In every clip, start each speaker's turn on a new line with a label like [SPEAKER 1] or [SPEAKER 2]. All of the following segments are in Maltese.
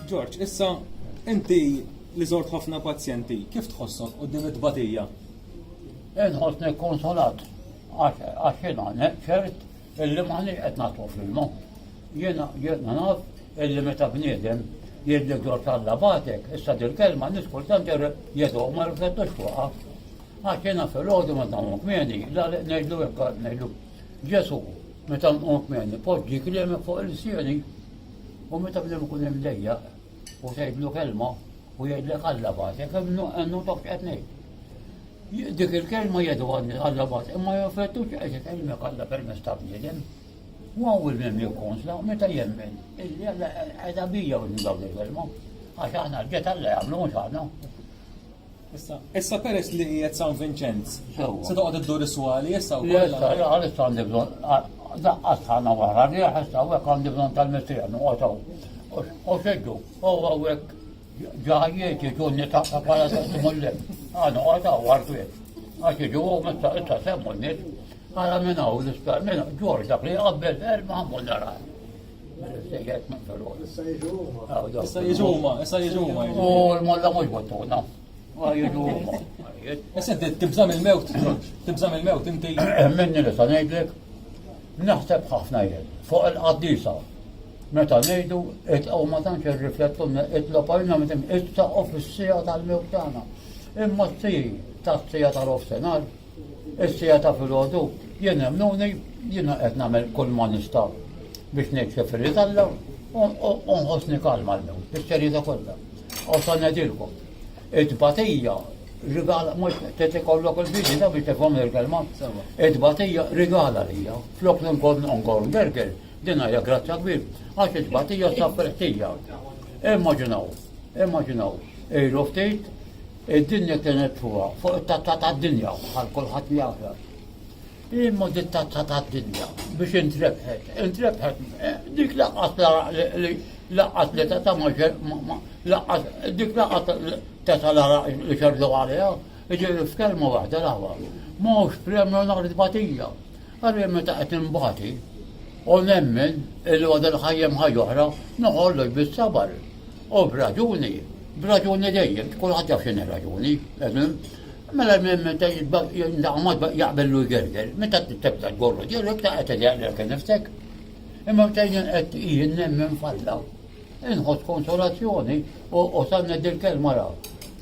[SPEAKER 1] George, issa inti li żort ħafna pazjenti, kif tħossok qudiem it-tbatija? Inħossni konsolat għax jiena neċċert illi maħniex qed nagħtu filmu. Jiena jiena naf illi meta bniedem jidlik dwar talla batek, issa dil kelma nis kultant jedu ma riflettux fuqha. Għax jiena fil-ħodu ma tagħmlu kmieni, la ngħidlu hekk ngħidlu Ġesu Meta nqum jien ipoġġi kliemek fuq ilsieni u meta bniem ikun imdejjaq u tgħidlu kelma u jgħidlek Alla bagħtek hemm notaf x'qed ngħid. Dik il-kelma jedu għandi Alla bagħtek imma jaffettu x'qed ikellmek Alla permezz ta' bniedem. U għaw il-mem jikkonsla meta jemmen illi Alla qiegħda bija u dawn il-kelma għax aħna ġġet Alla jagħmlu mhux aħna. Issa, issa peress li qiegħed San Vinċenz. Se toqgħod iddur is-swali issa wkoll. Issa, għaliex għandi bżonn daqqat ħana wara li ħessa hawnhekk għandi bżonn tal-missier noqgħodhom. U xeddu, u hawnhekk ġajiet iġunni ta' bħala testimulli. Għana għada għarfiet. Għax iġu u mista issa semmu n-nis. Għala minna u l-ispar, minna ġorġa li għabbel erba' għammu nara. Issa jiġu huma. Issa jiġu huma, issa jiġu huma. U l-molla mhux bottuna. Jiġu huma. Issa tibżam il-mewt, tibżam il-mewt inti. Eh, minni li sa ngħidlek, naħseb ħafna jien fuq il-qaddisa. Meta ngħidu itqgħu ma tantx irriflettu itlob għalina meta ittaqgħu fis-sija tal-mewt tagħna. Imma t-tij tas-sija tal-ofsenar Is-sija ta' filgħodu jien emnuni jiena qed nagħmel kull ma nista' biex ngħid kif irid Alla u nħossni kalma llum bis-serjetà kollha. U sa ngħidilkom, it-tbatija rigala mhux qed ikollok il-bidi ta' biex tifhom il-kelma. It-tbatija rigala lija. Flok li nkun nkun gerger, din hija grazzja kbir, għax it-tbatija sa preħtija. Immaġinaw, immaġinaw, ilu ftit Id-dinja kienet fuqha, fuq it-tazza tad-dinja, bħal kulħadd jagħraf. Imma dik tazza tad-dinja biex intrebħet, intrebħet eh, dik laqqas li laqqas li teta' ma laqqas dik laqqas teta' li xerdu għaliha, ġiri f'kelma waħda l-aħwa. Ma hux premju nhar tbatija. Għalli meta qed imbati, u nemmen il-għodel ħajjem ħajja oħra, noħollu bis-sabar. U b'raġuni, b'raġuni dejjem, kulħadd jaf x'inhi raġuni, eżem, mela jindaqmad jaqbellu jgerger, meta tibda tgorru ġirrek ta' qed jaqlek nifsek. Imma meta jien qed jien nemmen falla, inħoss konsolazzjoni u sanna dil-kelma raw.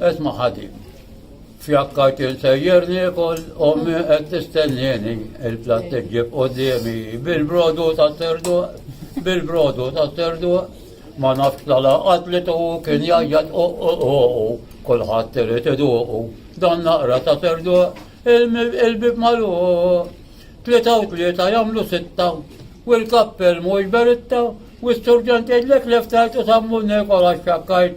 [SPEAKER 1] Qed ma ħadi. Fjakkajt insejjer niekol ommi qed tistennieni il-platt iġġib qudiemi bil-brodu ta' terdu bil-brodu ta' terdu ma nafx la laqat li tuqu kien jajjat u kulħadd irid iduqu dan naqra ta' terdu il-bib malu tlieta u tlieta jagħmlu sitta u l-kappell mhux beritta u s-surġent jgħidlek leftajt u sammu nekola xakkajt